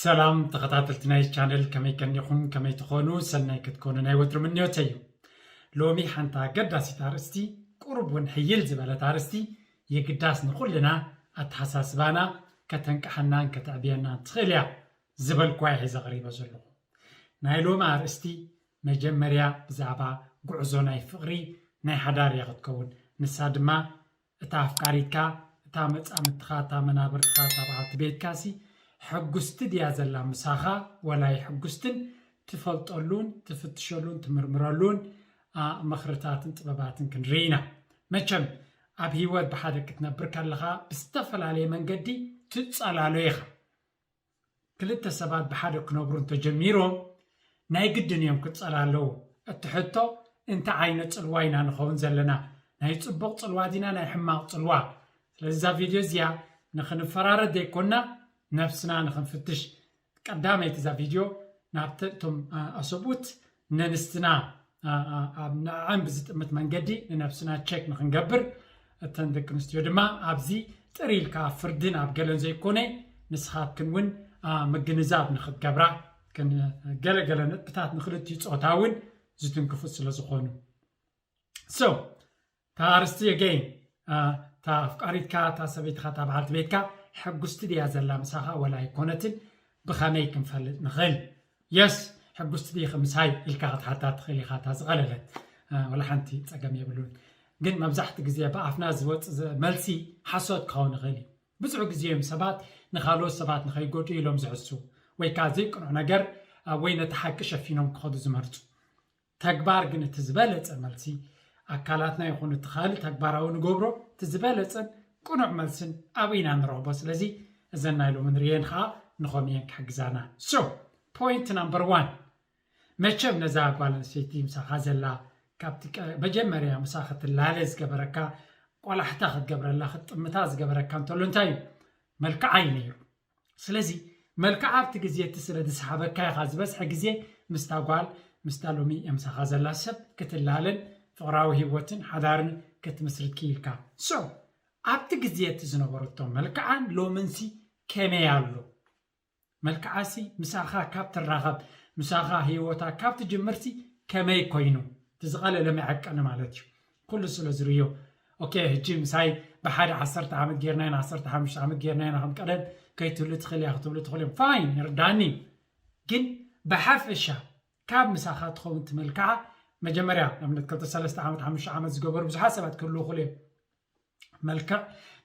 ሰላም ተኸታተልቲ ናይ ቻነል ከመይ ከኒኹም ከመይ ትኾኑ ሰናይ ክትኮኑ ናይ ወትሩ ምንዮተ እዩ ሎሚ ሓንቲ ኣገዳሲት ኣርእስቲ ቁሩብ እውን ሕይል ዝበለት ኣርእስቲ የግዳስ ንኹልና ኣተሓሳስባና ከተንቅሓናን ከተዕብየናን ትኽእል እያ ዝበልኳ ይሒ ዘቕሪበ ዘለኹ ናይ ሎሚ ኣርእስቲ መጀመርያ ብዛዕባ ጉዕዞ ናይ ፍቕሪ ናይ ሓዳር እያ ክትከውን ንሳ ድማ እታ ኣፍቃሪትካ፣ እታ መጻምድትኻ፣ እታ መናብርትኻ፣ እታ በዓልቲ ቤትካሲ ሕጉስቲ ድያ ዘላ ምሳኻ ወላ ኣይሕጉስትን ትፈልጠሉን ትፍትሸሉን ትምርምረሉን መኽርታትን ጥበባትን ክንርኢ ኢና። መቸም ኣብ ሂወት ብሓደ ክትነብር ከለኻ ብዝተፈላለየ መንገዲ ትጸላሎ ኢኻ። ክልተ ሰባት ብሓደ ክነብሩ እንተጀሚሮም ናይ ግድን እዮም ክጸላለዉ። እቲ ሕቶ እንታይ ዓይነት ጽልዋ ኢና ንኸውን ዘለና? ናይ ጽቡቕ ጽልዋ ዲና ናይ ሕማቕ ጽልዋ? ስለዚ እዛ ቪድዮ እዚኣ ንኽንፈራረድ ዘይኮና ነብስና ንኽንፍትሽ ቀዳመይቲ እዛ ቪድዮ ናብቲ እቶም ኣሰብኡት ነንስትና ኣብ ንዕዐን ብዝጥምት መንገዲ ንነብስና ቸክ ንክንገብር እተን ደቂ ኣንስትዮ ድማ ኣብዚ ጥር ኢልካ ፍርዲ ናብ ገለን ዘይኮነ ንስኻትክን እውን ምግንዛብ ንክትገብራ ገለገለ ነጥብታት ንክልቲኡ ፆታ እውን ዝትንክፉ ስለ ዝኾኑ ሶ እታ ኣርስቲ ኣገይን እታ ኣፍቃሪትካ እታ ሰበይትኻ እታ በዓልቲ ቤትካ ሕጉስቲ ድያ ዘላ ምሳኻ ወላ ኣይኮነትን ብኸመይ ክንፈልጥ ንኽእል የስ ሕጉስቲ ዲኺ ምሳይ ኢልካ ክትሓታ ትኽእል ኢኻ እታ ዝቐለለት ወላ ሓንቲ ፀገም የብሉን ግን መብዛሕቲ ግዜ ብኣፍና ዝወፅእ መልሲ ሓሶት ክኸውን ይኽእል እዩ ብዙሕ ግዜ እዮም ሰባት ንካልኦት ሰባት ንኸይጎዱ ኢሎም ዝሕሱ ወይ ከዓ ዘይቅኑዕ ነገር ወይ ነቲ ሓቂ ሸፊኖም ክኸዱ ዝመርፁ ተግባር ግን እቲ ዝበለጸ መልሲ ኣካላትና ይኹን እቲ ካልእ ተግባራዊ ንገብሮ እቲ ዝበለጸን ቅኑዕ መልስን ኣብኡ ኢና ንረኽቦ ስለዚ እዘን ናይ ሎሚ ንርእየን ኸኣ ንኸም እየን ክሕግዛና ሶ ፖይንት ናምበር ዋን መቸም ነዛ ጓል ኣንስተይቲ ምሳኻ ዘላ ካብቲ መጀመርያ ምሳ ክትላለ ዝገበረካ ቆላሕታ ክትገብረላ ክትጥምታ ዝገበረካ እንተሎ እንታይ እዩ መልክዓ እዩ ነይሩ ስለዚ መልክዓ ኣብቲ ግዜ እቲ ስለ ዝሰሓበካ ኢኻ ዝበዝሐ ግዜ ምስታ ጓል ምስታ ሎሚ ኣምሳኻ ዘላ ሰብ ክትላለን ፍቕራዊ ህይወትን ሓዳርን ክትምስርት ክኢልካ። So ኣብቲ ግዜ እቲ ዝነበረቶ መልክዓን ሎምንሲ ከመይ ኣሎ? መልክዓሲ ምሳኻ ካብ ትራኸብ ምሳኻ ህይወታ ካብ ትጅምርሲ ከመይ ኮይኑ? እቲ ዝቐለለ መዐቀኒ ማለት እዩ። ኩሉ ስለ ዝርእዮ ኦኬ ሕጂ ምሳይ ብሓደ ዓሰርተ ዓመት ጌርናዮ ንዓሰርተ ሓሙሽተ ዓመት ጌርናዮ ከም ቀደም ከይትህሉ ትኽእል እያ ክትብሉ ትኽእሉ እዮም ፋይን ይርዳኒ ግን ብሓፈሻ ካብ ምሳኻ ትኸውን ትመልክዓ መጀመርያ ንኣብነት ክልተ ሰለስተ ዓመት ሓሙሽተ ዓመት ዝገበሩ ብዙሓት ሰባት ክህልዉ ክእሉ እዮም መልክዕ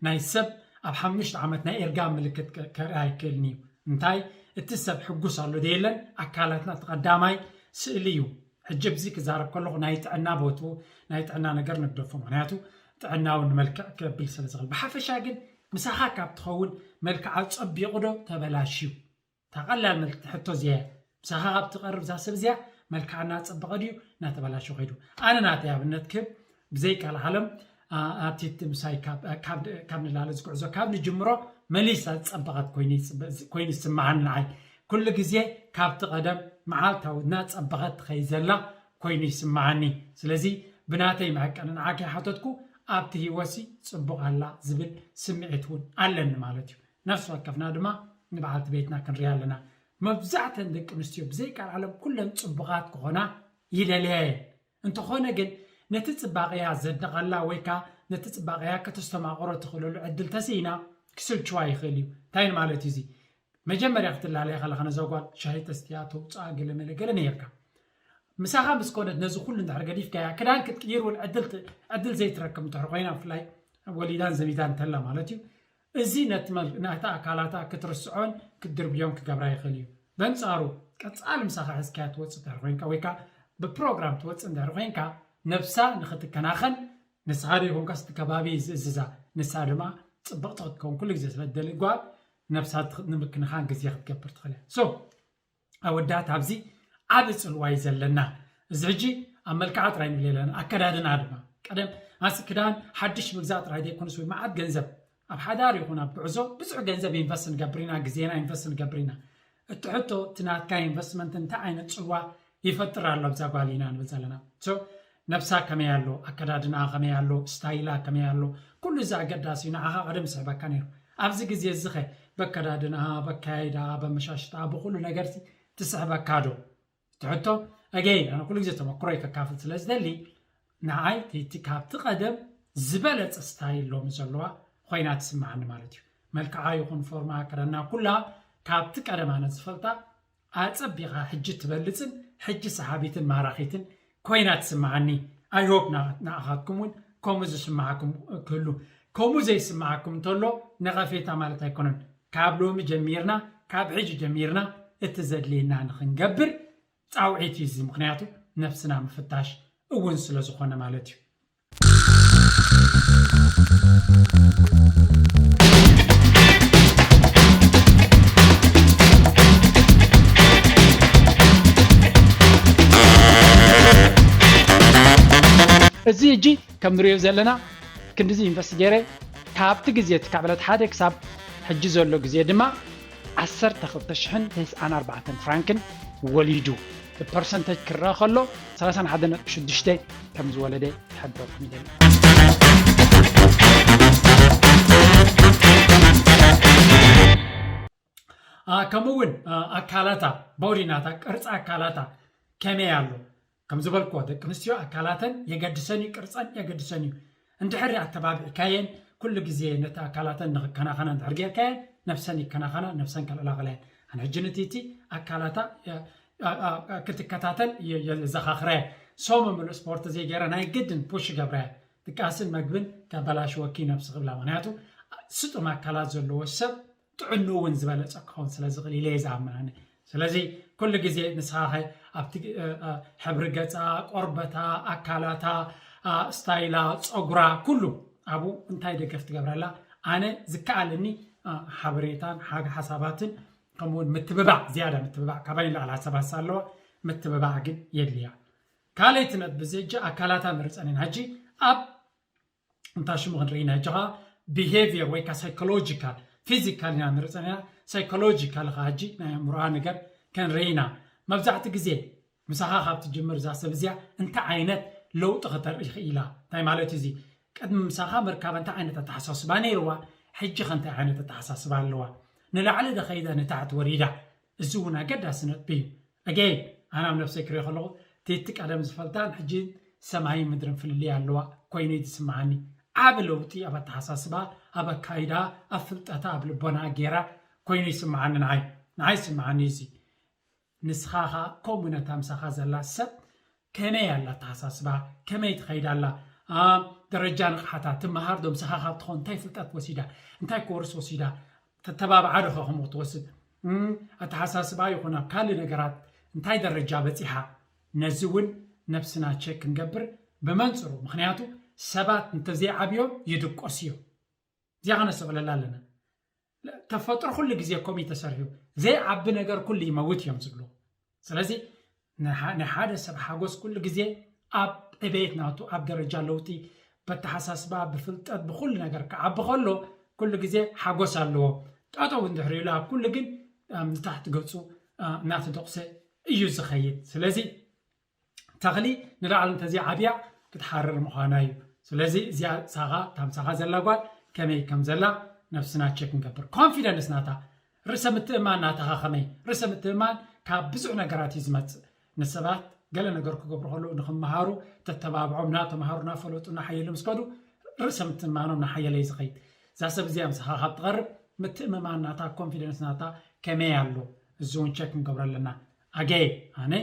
ናይ ሰብ ኣብ ሓሙሽተ ዓመት ናይ እርጋን ምልክት ከርኢ ኣይክእልን እዩ እንታይ እቲ ሰብ ሕጉስ ኣሎ ደየለን ኣካላትና እቲ ቀዳማይ ስእሊ እዩ ሕጂ ብዚ ክዛረብ ከለኹ ናይ ጥዕና ቦቱ ናይ ጥዕና ነገር ንግደፎ ምክንያቱ ጥዕናዊ ንመልክዕ ከብል ስለ ዝኽእል ብሓፈሻ ግን ምሳኻ ካብ ትኸውን መልክዓ ፀቢቑ ዶ ተበላሽዩ እታ ቀላል መልክቲ ሕቶ እዚኣ እያ ምሳኻ ካብ ትቀርብ እዛ ሰብ እዚኣ መልክዓ እናጸበቐ ድዩ እናተባላሸወ ከይዱ ኣነ ናተይ ኣብነት ክህብ ብዘይ ቀልዓለም ኣብቲ ምሳይ ካብ ንላለ ዝጉዕዞ ካብ ንጅምሮ መሊሳ ዝጸበቐት ኮይኑ ዝስምዓኒ ንዓይ ኩሉ ግዜ ካብቲ ቀደም መዓልታዊ እናጸበቐት ትኸይድ ዘላ ኮይኑ ይስምዓኒ ስለዚ ብናተይ መዐቀኒ ንዓኪ ሓተትኩ ኣብቲ ሂወትሲ ጽቡቕ ኣላ ዝብል ስምዒት እውን ኣለኒ ማለት እዩ ነፍሲ ወከፍና ድማ ንበዓልቲ ቤትና ክንሪኣ ኣለና። መብዛሕተን ደቂ ኣንስትዮ ብዘይቀልዓለም ኩለን ጽቡቓት ክኾና ይደልያ እየን። እንተኾነ ግን ነቲ ጽባቐኣ ዘድንቐላ ወይ ከኣ ነቲ ጽባቐኣ ከተስተማቕሮ ትኽእለሉ ዕድል ተስኢና ክስልችዋ ይኽእል እዩ። እንታይ ንማለት እዩ እዚ? መጀመርያ ክትላለያ ከለኻ ነዛ ጓል ሻሂ ተስትያ፣ ተውጽኣ ገለ መለ ገለ ነይርካ። ምሳኻ ምስ ኮነት ነዚ ኩሉ እንድሕር ገዲፍካያ ክዳን ክትቅይር እውን ዕድል ዕድል ዘይትረክብ እንድሕር ኮይና ብፍላይ ወሊዳን ዘቢታን እንተላ ማለት እዩ እዚ ነቲ መግናህታ ኣካላታ ክትርስዖን ክትድርብዮን ክገብራ ይኽእል እዩ። በንጻሩ፣ ቀጻሊ ምሳኻ ሒዝካያ ትወጽእ እንድሕሪ ኮይንካ ወይ ከኣ ብፕሮግራም ትወጽእ እንድሕሪ ኮይንካ፣ ነብሳ ንኽትከናኸን ንስኻ ዘይኮንካስ እቲ ከባቢ እዩ ዝእዝዛ። ንሳ ድማ ጽብቕቲ ክትከውን ኩሉ ግዜ ስለ እትደሊ ጓል፣ ነብሳ ንምክንኻን ግዜ ክትገብር ትኽእል እያ። so ኣወዳት ኣብዚ ዓቢ ጽልዋ እዩ ዘለና እዚ ሕጂ ኣብ መልክዓ ጥራይ ንብል የለን ኣከዳድና ድማ ቀደም ኣስ ክዳን ሓድሽ ምግዛእ ጥራይ ዘይኮነስ ወይ መዓት ገንዘብ ኣብ ሓዳር ይኹን ኣብ ጉዕዞ ብዙሕ ገንዘብ ኢንቨስት ንገብር ኢና ግዜና ኢንቨስት ንገብር ኢና እቲ ሕቶ እቲ ናትካ ኢንቨስትመንት እንታይ ዓይነት ጽልዋ ይፈጥር ኣሎ ኣብዛ ጓል ኢና ንብል ዘለና ነብሳ ከመይ ኣሎ ኣከዳድናኣ ከመይ ኣሎ ስታይላ ከመይ ኣሎ ኩሉ እዚ ኣገዳሲ እዩ ንዓኻ ቀደም ይስሕበካ ነይሩ ኣብዚ ግዜ እዚኸ በከዳድንኣ በካያይዳኣ በመሻሽጣኣ ብኹሉ ነገርሲ ትስሕበካ ዶ እቲ ሕቶ ኣገይን ኣነ ኩሉ ግዜ ተመክሮይ ከካፍል ስለ ዝደሊ ንዓይ እቲ ካብቲ ቀደም ዝበለጸ ስታይል ሎሚ ዘለዋ ኮይና ትስምዓኒ ማለት እዩ መልክዓ ይኹን ፎርማ ኣከዳድና ኩላ ካብቲ ቀደም ኣነ ዝፈልጣ ኣጸቢቃ ሕጂ ትበልጽን ሕጂ ሰሓቢትን ማራኺትን ኮይና ትስምዓኒ ኣይ ሆፕ ንኣኻትኩም ውን ከምኡ ዝስምዓኩም ክህሉ ከምኡ ዘይስምዓኩም እንተሎ ነቐፌታ ማለት ኣይኮነን ካብ ሎሚ ጀሚርና ካብ ሕጂ ጀሚርና እቲ ዘድልየና ንኽንገብር ጻውዒት እዩ እዚ ምኽንያቱ ነፍስና ምፍታሽ እውን ስለ ዝኾነ ማለት እዩ እዚ ሕጂ ከም ንሪኦ ዘለና ክንድዚ ኢንቨስት ገይረ ካብቲ ግዜ እቲ ካብ ዕለት ሓደ ክሳብ ሕጂ ዘሎ ግዜ ድማ ዓሰርተ ክልተ ሽሕን ተስዓን ኣርባዕተን ፍራንክን ወሊዱ ብፐርሰንተጅ ክረኣ ከሎ ሰላሳን ሓደ ነጥቢ ሽዱሽተ ከም ዝወለደ ይሕብረኩም ይደሊ። ከምኡ እውን ኣካላታ ቦዲ ናታ ቅርፂ ኣካላታ ከመይ ኣሎ ከም ዝበልክዎ ደቂ ኣንስትዮ ኣካላተን የገድሰን እዩ፣ ቅርጸን የገድሰን እዩ። እንድሕሪ ኣተባቢዕካየን፣ ኩሉ ግዜ ነቲ ኣካላተን ንኽከናኸና እንድሕሪ ጌርካየን፣ ነብሰን ይከናኸና፣ ነብሰን ከልዕላቕላ እየን። ኣነ ሕጂ ንቲቲ ኣካላታ ክትከታተል የዘኻኽራ እየ። ሰሙን ምሉእ ስፖርት ዘይገይረ ናይ ግድን ፑሽ ይገብራ እየ። ድቃስን መግብን ከበላሽወኪ እዩ ነብሲ ክብላ። ምኽንያቱ ስጡም ኣካላት ዘለዎ ሰብ ጥዕንኡ እውን ዝበለፀ ክኸውን ስለ ዝኽእል ኢለ እየ ዝኣምን ኣነ ስለዚ ኩሉ ግዜ ንስኻ ኸ ኣብቲ ሕብሪ ገፃ ቆርበታ ኣካላታ ስታይላ ፀጉራ ኩሉ ኣብኡ እንታይ ደገፍ ትገብረላ ኣነ ዝከኣለኒ ሓበሬታን ሓግ ሓሳባትን ከምኡውን ምትብባዕ ዝያዳ ምትብባዕ ካባይ ንላዕሊ ሓሳባት ኣለዋ ምትብባዕ ግን የድልያ ካልኣይቲ ነጥቢ እዚ ሕጂ ኣካላታ ንርፀን ኢና ሕጂ ኣብ እንታ ሽሙ ክንርኢ ኢና ሕጂ ኸኣ ቢሄቪየር ወይ ከኣ ሳይኮሎጂካል ፊዚካል ኢና ንርኢ ጸኒሕና ሳይኮሎጂካል ኸኣ ሕጂ ናይ ኣእምሮኣ ነገር ክንርኢ ኢና መብዛሕትኡ ግዜ ምሳኻ ካብ ትጅምር እዛ ሰብ እዚኣ እንታይ ዓይነት ለውጢ ከተርኢ ክኢላ እንታይ ማለት እዩ እዚ ቅድሚ ምሳኻ ምርካባ እንታይ ዓይነት ኣተሓሳስባ ነይርዋ ሕጂ ከ እንታይ ዓይነት ኣተሓሳስባ ኣለዋ ንላዕሊ ዶ ኸይዳ ንታሕቲ ወሪዳ እዚ ውን ኣገዳሲ ነጥቢ እዩ ኣገይን ኣነ ኣብ ነብሰይ ክሪኦ ከለኩ ቲቲ ቀደም ዝፈልጣን ሕጂ ሰማይን ምድርን ፍልልይ ኣለዋ ኮይኑ እዩ ዝስምዓኒ ዓቢ ለውጢ ኣብ ኣተሓሳስባ ኣብ ኣካይዳ ኣብ ፍልጠታ ኣብ ልቦናኣ ጌራ ኮይኑ ይስምዓኒ ንዓይ ንዓይ ይስምዓኒ እዩ እዚ ንስካ ከኣ ከምኡ ነታ ምሳካ ዘላ ሰብ ከመይ ኣላ ኣተሓሳስባ ከመይ ትኸይድ ኣላ ኣብ ደረጃ ንቕሓታ ትመሃር ዶ ምሳኻ ካብ ትኾን እንታይ ፍልጠት ወሲዳ እንታይ ኮርስ ወሲዳ ተተባብዓ ዶ ከ ከምኡ ክትወስድ ኣተሓሳስባ ይኹን ኣብ ካልእ ነገራት እንታይ ደረጃ በፂሓ ነዚ እውን ነብስና ቸክ ክንገብር ብመንፅሩ ምክንያቱ ሰባት እንተዘይዓብዮም ይድቆስ እዮም እዚኣ ከነስተብለላ ኣለና ተፈጥሮ ኩሉ ግዜ ከምኡ ተሰሪሑ ዘይዓቢ ነገር ኩሉ ይመውት እዮም ዝብሉ ስለዚ ናይ ሓደ ሰብ ሓጎስ ኩሉ ግዜ ኣብ ዕቤት ናቱ ኣብ ደረጃ ለውጢ በተሓሳስባ ብፍልጠት ብኩሉ ነገር ክዓቢ ከሎ ኩሉ ግዜ ሓጎስ ኣለዎ ጠጠው እንድሕር ኢሉ ኣብ ኩሉ ግን ንታሕቲ ገፁ እናተደቑሰ እዩ ዝኸይድ ስለዚ ተኽሊ ንላዕሊ እንተዘይዓብያ ክትሓርር ምዃና እዩ። ስለዚ እዚኣ ሳኻ እታ ምሳኻ ዘላ ጓል ከመይ ከም ዘላ ነፍስና ቸክ ንገብር። ኮንፊደንስ ናታ ርእሰ ምትእምማን ናታኻ ከመይ? ርእሰ ምትእምማን ካብ ብዙሕ ነገራት እዩ ዝመጽእ። ንሰባት ገለ ነገር ክገብሩ ከለዉ ንክመሃሩ ተተባብዖም እናተምሃሩ እናፈለጡ እናሓየሉ ምስ ከዱ ርእሰ ምትእምማኖም እናሓየለ እዩ ዝኸይድ። እዛ ሰብ እዚኣ ምሳኻ ካብ ትቐርብ ምትእምማን ናታ ኮንፊደንስ ናታ ከመይ ኣሎ? እዚ እውን ቸክ ክንገብሮ ኣለና። ኣገየ ኣነ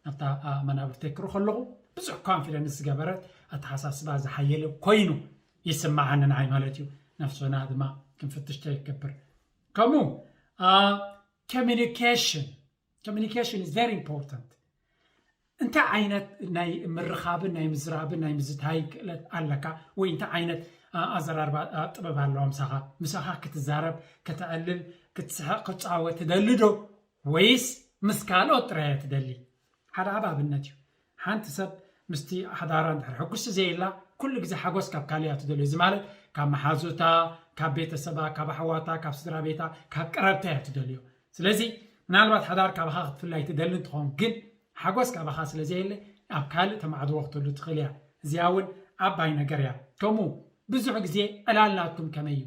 ናብታ ኣብ መናብርተይ ክርኾ ኣለኹ ብዙሕ ኮንፊደንስ ዝገበረት ኣተሓሳስባ ዝሓየለ ኮይኑ ይስምዓኒ ንዓይ ማለት እዩ ነፍስና ድማ ክንፍትሽ ተይገብር ከምኡ ኮሚኒኬሽን ኮሚኒኬሽን ኢዝ ቨሪ ኢምፖርታንት እንታይ ዓይነት ናይ ምርኻብን ናይ ምዝራብን ናይ ምዝታይ ክእለት ኣለካ ወይ እንታይ ዓይነት ኣዘራርባ ጥበብ ኣለዋ ምሳኻ ምሳኻ ክትዛረብ ከተዕልል ክትስሕቕ ክትፃወት ትደሊ ዶ ወይስ ምስ ካልኦት ጥራይ እያ ትደሊ? ሓደ ዓቢ ኣብነት እዩ። ሓንቲ ሰብ ምስቲ ሓዳራ እንድሕር ሕጉስቲ ዘየላ፣ ኩሉ ግዜ ሓጎስ ካብ ካልእ እያ ትደልዮ። እዚ ማለት ካብ መሓዙታ፣ ካብ ቤተሰባ፣ ካብ ኣሕዋታ፣ ካብ ስድራቤታ፣ ካብ ቀረብታ እያ ትደልዮ። ስለዚ ምናልባት ሓዳር ካባኻ ክትፍላይ ትደሊ እንትኸውን፣ ግን ሓጎስ ካባኻ ስለ ዘየለ ኣብ ካልእ ተማዕድዎ ክትህሉ ትኽእል እያ። እዚኣ እውን ዓባይ ነገር እያ። ከምኡ ብዙሕ ግዜ ዕላል ናትኩም ከመይ እዩ?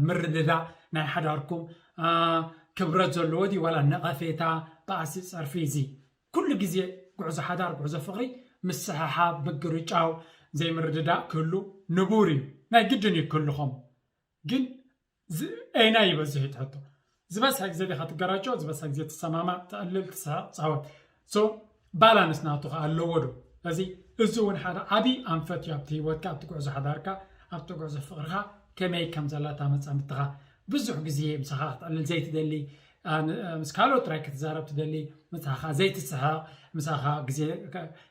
ምርድዳእ ናይ ሓዳርኩም ክብረት ዘለዎ ድዩ ዋላ ነቐፌታ በኣሲ ፀርፊ እዚ ኩሉ ግዜ ጉዕዞ ሓዳር ጉዕዞ ፍቕሪ ምስሕሓብ ምግርጫው ዘይምርድዳእ ክህሉ ንቡር እዩ ናይ ግድን እዩ ክህሉ ከምኡ ግን ኣየናይ ይበዝሕ እዩ ትሕቶ ዝበዝሐ ግዜ ዲኻ ትገራጮ ዝበዝሐ ግዜ ትሰማማዕ ተዕልል ትስሕቕ ትጻወት ሶ ባላንስ ናቱ ከኣ ኣለዎ ዶ እዚ እዚ እውን ሓደ ዓብዪ ኣንፈት እዩ ኣብቲ ህይወትካ ኣብቲ ጉዕዞ ሓዳርካ ኣብቲ ጉዕዞ ፍቕርኻ ከመይ ከም ዘላ እታ መጻምድትኻ ብዙሕ ግዜ ምሳኻ ክትዕልል ዘይትደሊ ምስ ካልኦት ጥራይ ክትዛረብ ትደሊ ምሳኻ ዘይትስሕቕ ምሳኻ ግዜ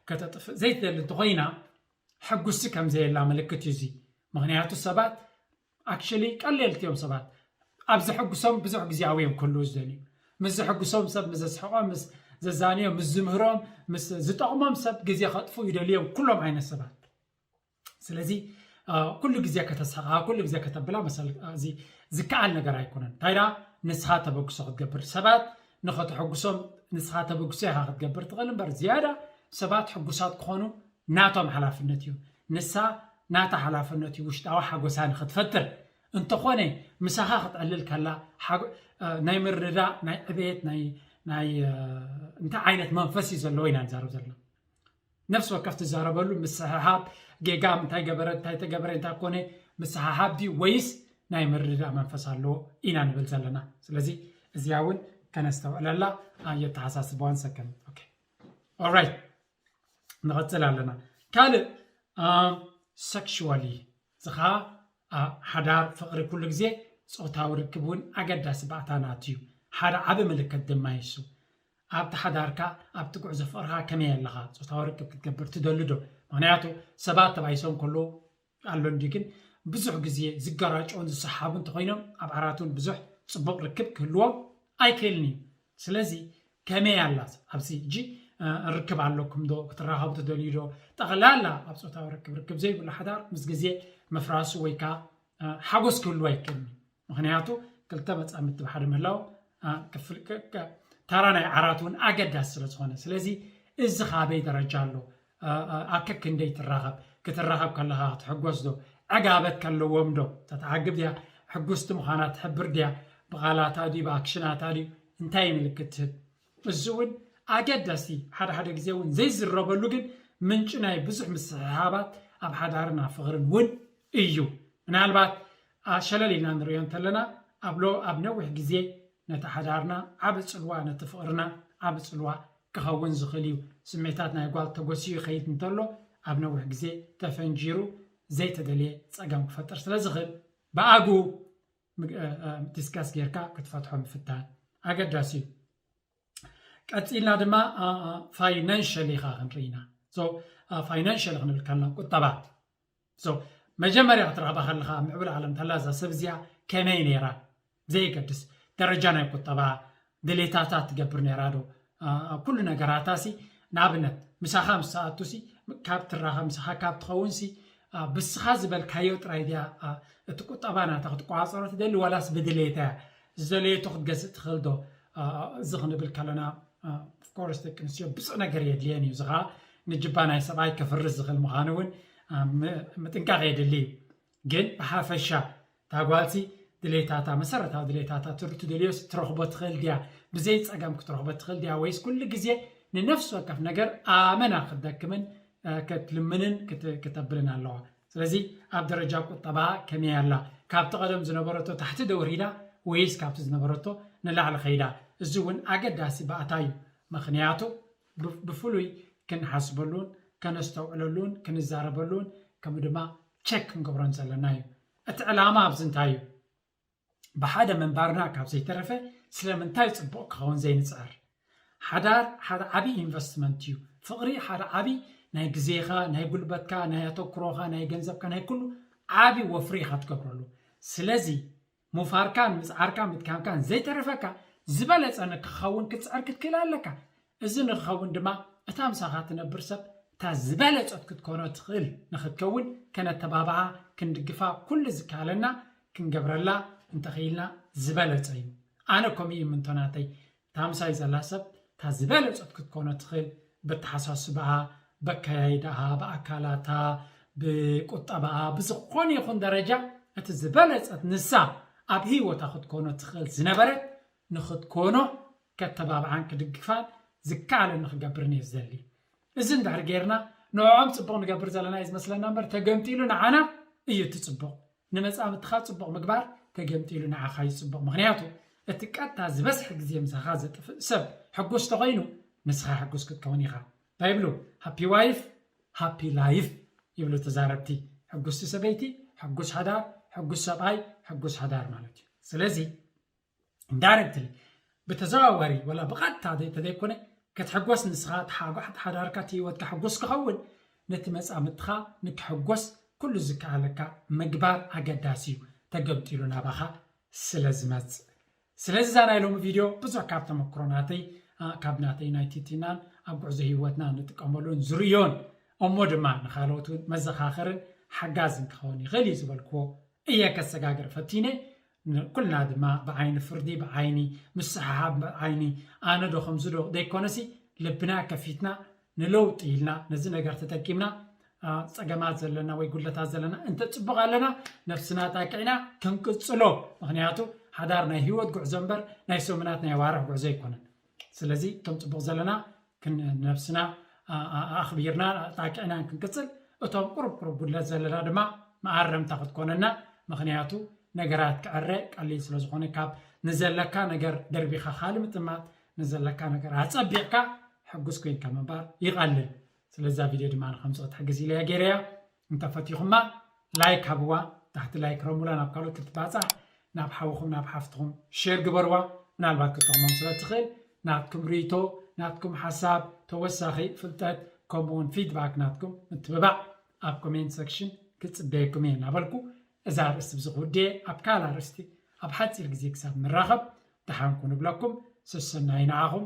ከተጥፍእ ዘይትደሊ እንተኾይና ሕጉስቲ ከም ዘየላ ምልክት እዩ እዚ ምክንያቱ ሰባት Actually ቀሌልቲ እዮም ሰባት ኣብ ዘሐጉሶም ብዙሕ ግዜኣዊ እዮም ክህልዉ ዝደልዩ ምስ ዘሐጉሶም ሰብ ምስ ዘስሕቆም ምስ ዘዛንዮም ምስ ዝምህሮም ምስ ዝጠቕሞም ሰብ ግዜ ከጥፉ ይደልዩ እዮም ኩሎም ዓይነት ሰባት ስለዚ ኩሉ ግዜ ከተስሕቃ ኩሉ ግዜ ከተብላ መሰል እዚ ዝከኣል ነገር ኣይኮነን እንታይ ደኣ ንስኻ ተበግሶ ክትገብር ሰባት ንኸተሐጉሶም ንስኻ ተበግሶ ኢኻ ክትገብር ትኽእል እምበር ዝያዳ ሰባት ሕጉሳት ክኾኑ ናቶም ሓላፍነት እዩ። ንሳ ናታ ሓላፍነት እዩ ውሽጣዊ ሓጎሳ ንክትፈጥር። እንተኾነ ምሳኻ ክትዕልል ከላ ሓጎ ናይ ምርድዳእ ናይ ዕቤት ናይ ናይ እንታይ ዓይነት መንፈስ እዩ ዘለዎ ኢና ንዛረብ ዘለና። ነፍሲ ወከፍ ትዛረበሉ ምስሕሓብ ጌጋ እንታይ ገበረ እንታይ ተገበረ እንታይ ኮነ ምስሓሓብ ድዩ ወይስ ናይ ምርድዳእ መንፈስ ኣለዎ ኢና ንብል ዘለና። ስለዚ እዚኣ እውን ከነስተውዕለላ ኣየተሓሳስበዋን ሰከም ኦኬ ኦልራይት ንቐፅል ኣለና ካልእ ሰክሽዋሊ ዝኻ ሓዳር ፍቕሪ ኩሉ ግዜ ፆታዊ ርክብ እውን ኣገዳሲ ባእታናት እዩ ሓደ ዓበ ምልክት ድማ ይሱ ኣብቲ ሓዳርካ ኣብቲ ጉዕዞ ፍቕርካ ከመይ ኣለኻ ፆታዊ ርክብ ክትገብር ትደልዶ ምክንያቱ ሰባት ተባይሶም ከለዉ ኣሎ እንድዩ ግን ብዙሕ ግዜ ዝጋራጮን ዝሰሓቡን ተኾይኖም ኣብ ዓራትውን ብዙሕ ጽቡቅ ርክብ ክህልዎም ኣይክእልን እዩ ስለዚ ከመይ ኣላ ኣብዚ ሕጂ ርክብ ኣለኩም ዶ ክትራኸቡ ትደልዩ ዶ ጠቕላላ ኣብ ጾታዊ ርክብ ርክብ ዘይብሉ ሓዳር ምስ ግዜ ምፍራሱ ወይ ከዓ ሓጎስ ክህልዎ ኣይክእልን እዩ ምኽንያቱ ክልተ መፃምድቲ ብሓደ ምህላው ታራ ናይ ዓራት እውን ኣገዳሲ ስለ ዝኾነ ስለዚ እዚ ካበይ ደረጃ ኣሎ ኣብ ከክንደይ ትራኸብ ክትራኸብ ከለኻ ክትሕጎስ ዶ ዕጋበት ከለዎም ዶ ተትዓግብ ድያ ሕጉስቲ ምዃና ትሕብር ድያ ብቓላታ ድዩ ብኣክሽናታ ድዩ እንታይ ምልክት ትህብ እዚ እውን ኣገዳሲ ሓደ ሓደ ግዜ እውን ዘይዝረበሉ ግን ምንጪ ናይ ብዙሕ ምስሕሓባት ኣብ ሓዳርን ኣብ ፍቕርን እውን እዩ። ምናልባት ሸለል ኢልና ንርእዮ እንተለና ኣብ ሎ ኣብ ነዊሕ ግዜ ነቲ ሓዳርና ዓቢ ጽልዋ ነቲ ፍቕርና ዓቢ ጽልዋ ክኸውን ዝኽእል እዩ። ስሜታት ናይ ጓል ተጎሲዩ ይኸይድ እንተሎ ኣብ ነዊሕ ግዜ ተፈንጂሩ ዘይተደልየ ጸገም ክፈጥር ስለ ዝኽእል ብኣግኡ ዲስከስ ጌርካ ክትፈትሖ ምፍታን ኣገዳሲ እዩ ቀፂልና ድማ ፋይናንሽል ኢኻ ክንርኢ ኢና ፋይናንሽል ክንብል ከለና ቁጠባ መጀመርያ ክትረኽባ ከለኻ ምዕብል ዓለም ተላ እዛ ሰብ እዚኣ ከመይ ነይራ ዘይገድስ ደረጃ ናይ ቁጠባ ድሌታታ ትገብር ነይራ ዶ ኩሉ ነገራታ ሲ ንኣብነት ምሳኻ ምስ ትኣቱ ሲ ካብ ትራኸብ ምሳኻ ካብ ትኸውን ሲ ብስኻ ዝበልካዮ ጥራይ ድያ እቲ ቁጠባ ናታ ክትቆፃፀሮ ትደሊ ዋላስ ብድሌታ እያ ዝደለየቶ ክትገዝእ ትኽእል ዶ እዚ ክንብል ከለና ኦፍኮርስ ደቂ ኣንስትዮ ብፁዕ ነገር የድልየን እዩ እዚ ከዓ ንጅባ ናይ ሰብኣይ ከፍርስ ዝኽእል ምዃኑ እውን ምጥንቃቕ የድሊ እዩ ግን ብሓፈሻ እታ ጓልሲ ድሌታታ መሰረታዊ ድሌታታ ትደልዮስ ትረኽቦ ትኽእል ድያ? ብዘይ ጸገም ክትረኽቦ ትኽእል ድያ? ወይስ ኩሉ ግዜ ንነፍሲ ወከፍ ነገር ኣመና ክትደክምን ክትልምንን ክተብልን ኣለዋ? ስለዚ ኣብ ደረጃ ቁጠባ ከመይ ኣላ? ካብቲ ቀደም ዝነበረቶ ታሕቲ ዶ ወሪዳ ወይስ ካብቲ ዝነበረቶ ንላዕሊ ከይዳ? እዚ እውን ኣገዳሲ ባእታ እዩ። ምኽንያቱ ብፍሉይ ክንሓስበሉን ከነስተውዕለሉን ክንዛረበሉን ከምኡ ድማ ቸክ ክንገብሮን ዘለና እዩ። እቲ ዕላማ ኣብዚ እንታይ እዩ? ብሓደ ምንባርና ካብ ዘይተረፈ ስለምንታይ ጽቡቕ ክኸውን ዘይንጽዕር? ሓዳር ሓደ ዓቢ ኢንቨስትመንት እዩ። ፍቕሪ ሓደ ዓቢ ናይ ግዜኻ፣ ናይ ጉልበትካ፣ ናይ ኣተኩሮኻ፣ ናይ ገንዘብካ፣ ናይ ኩሉ ዓቢ ወፍሪ ኢኻ ትገብረሉ። ስለዚ ምውፋርካን ምጽዓርካን ምድካምካን ዘይተርፈካ ዝበለጸ ንክኸውን ክትጽዕር ክትክእል ኣለካ። እዚ ንክኸውን ድማ እታ ምሳኻ ትነብር ሰብ እታ ዝበለጸት ክትኮኖ ትኽእል ንክትከውን ከነተባብዓ ክንድግፋ ኩሉ ዝከኣለና ክንገብረላ እንተኽኢልና ዝበለጸ እዩ። ኣነ ከምኡ ይምንቶ ናተይ እታ ምሳይ ዘላ ሰብ እታ ዝበለጸት ክትኮኖ ትኽእል በተሓሳስባኣ በካያይዳኣ ብኣካላታ ብቁጠባኣ ብዝኾነ ይኹን ደረጃ እቲ ዝበለጸት ንሳ ኣብ ህይወታ ክትኮኖ ትኽእል ዝነበረት ንኽትኮኖ ከተባብዓን ክድግፋን ዝከኣለኒ ክገብርን እየ ዝደሊ እዚ እንድሕር ጌርና ንዕኦም ጽቡቕ ንገብር ዘለና እዩ ዝመስለና እምበር ተገንጢሉ ንዓና እዩ እቲ ጽቡቕ ንመጻምድትኻ ጽቡቕ ምግባር ተገምጢሉ ንዓኻ እዩ ጽቡቕ ምኽንያቱ እቲ ቀጥታ ዝበዝሐ ግዜ ምሳኻ ዘጥፍእ ሰብ ሕጉስ ተኾይኑ ንስኻ ሕጉስ ክትከውን ኢኻ እንታይ ይብሉ ሃፒ ዋይፍ ሃፒ ላይፍ ይብሉ ተዛረብቲ ሕጉስቲ ሰበይቲ ሕጉስ ሓዳር ሕጉስ ሰብኣይ ሕጉስ ሓዳር ማለት እዩ ስለዚ ዳይረክትሊ ብተዘዋዋሪ ወላ ብቐጥታ እንተዘይኮነ ክትሕጎስ ንስኻ ተሓጓሕት ሓዳርካ እቲ ህይወትካ ሕጉስ ክኸውን ነቲ መጻምድትኻ ንክሕጎስ ኩሉ ዝከኣለካ ምግባር ኣገዳሲ እዩ ተገምጢሉ ናባኻ ስለ ዝመጽእ ስለዚ እዛ ናይ ሎሚ ቪድዮ ብዙሕ ካብ ተመክሮ ናተይ ካብ ናተይ ናይ ቲትናን ኣብ ጉዕዞ ህይወትና ንጥቀመሉን ዝርእዮን እሞ ድማ ንካልኦት እውን መዘኻኸርን ሓጋዝን ክኸውን ይኽእል እዩ ዝበልክዎ እየ ከሰጋግር ፈቲነ ንኩልና ድማ ብዓይኒ ፍርዲ ብዓይኒ ምስሕሓብ ብዓይኒ ኣነ ዶ ከምዚ ዶ ዘይኮነሲ ልብና ከፊትና ንለውጢ ኢልና ነዚ ነገር ተጠቂምና ፀገማት ዘለና ወይ ጉድለታት ዘለና እንተ ፅቡቕ ኣለና ነፍስና ጣቂዕና ክንቅፅሎ ምክንያቱ ሓዳር ናይ ሂወት ጉዕዞ እምበር ናይ ሰሙናት ናይ ኣዋርሕ ጉዕዞ ኣይኮነን ስለዚ እቶም ፅቡቕ ዘለና ክንነብስና ኣኽቢርና ጣቂዕናን ክንቅፅል እቶም ቁሩብ ቁሩብ ጉድለት ዘለና ድማ መኣረምታ ክትኮነና ምክንያቱ ነገራት ክዕረ ቀሊል ስለ ዝኾነ ካብ ንዘለካ ነገር ደርቢኻ ካልእ ምጥማት ንዘለካ ነገር ኣፀቢቕካ ሕጉስ ኮይንካ ምንባር ይቐልል ስለዛ ቪድዮ ድማ ንከምፅኦ ትሕግዝ ኢለያ ገይረያ እንተ ፈቲኹማ ላይክ ሃብዋ ታሕቲ ላይክ ረሙላ ናብ ካልኦት ክትባጻሕ ናብ ሓውኹም ናብ ሓፍትኹም ሼር ግበርዋ ምናልባት ክትጠቕሞም ስለ ትኽእል ናትኩም ርኢቶ ናትኩም ሓሳብ ተወሳኺ ፍልጠት ከምኡ ውን ፊድባክ ናትኩም ምትብባዕ ኣብ ኮሜንት ሰክሽን ክጽበየኩም እየ እናበልኩ እዛ ኣርእስቲ ብዚ ክውድየ ኣብ ካልእ ኣርእስቲ ኣብ ሓጺር ግዜ ክሳብ ንራኸብ ደሓን ኩኑ እብለኩም ሰሰናዩ ንዓኹም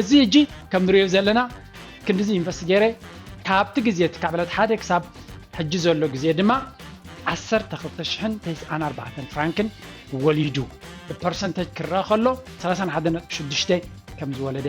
እዚ ሕጂ ከም ንሪኦ ዘለና ክንድዚ ኢንቨስት ገይረ ካብቲ ግዜ እቲ ካብ ዕለት ሓደ ክሳብ ሕጂ ዘሎ ግዜ ድማ ዓሰርተ ክልተ ሽሕን ተስዓን ኣርባዕተን ፍራንክን ወሊዱ ብፐርሰንተጅ ክረኣ ከሎ ሰላሳን ሓደ ነጥቢ ሽዱሽተ ከም ዝወለደ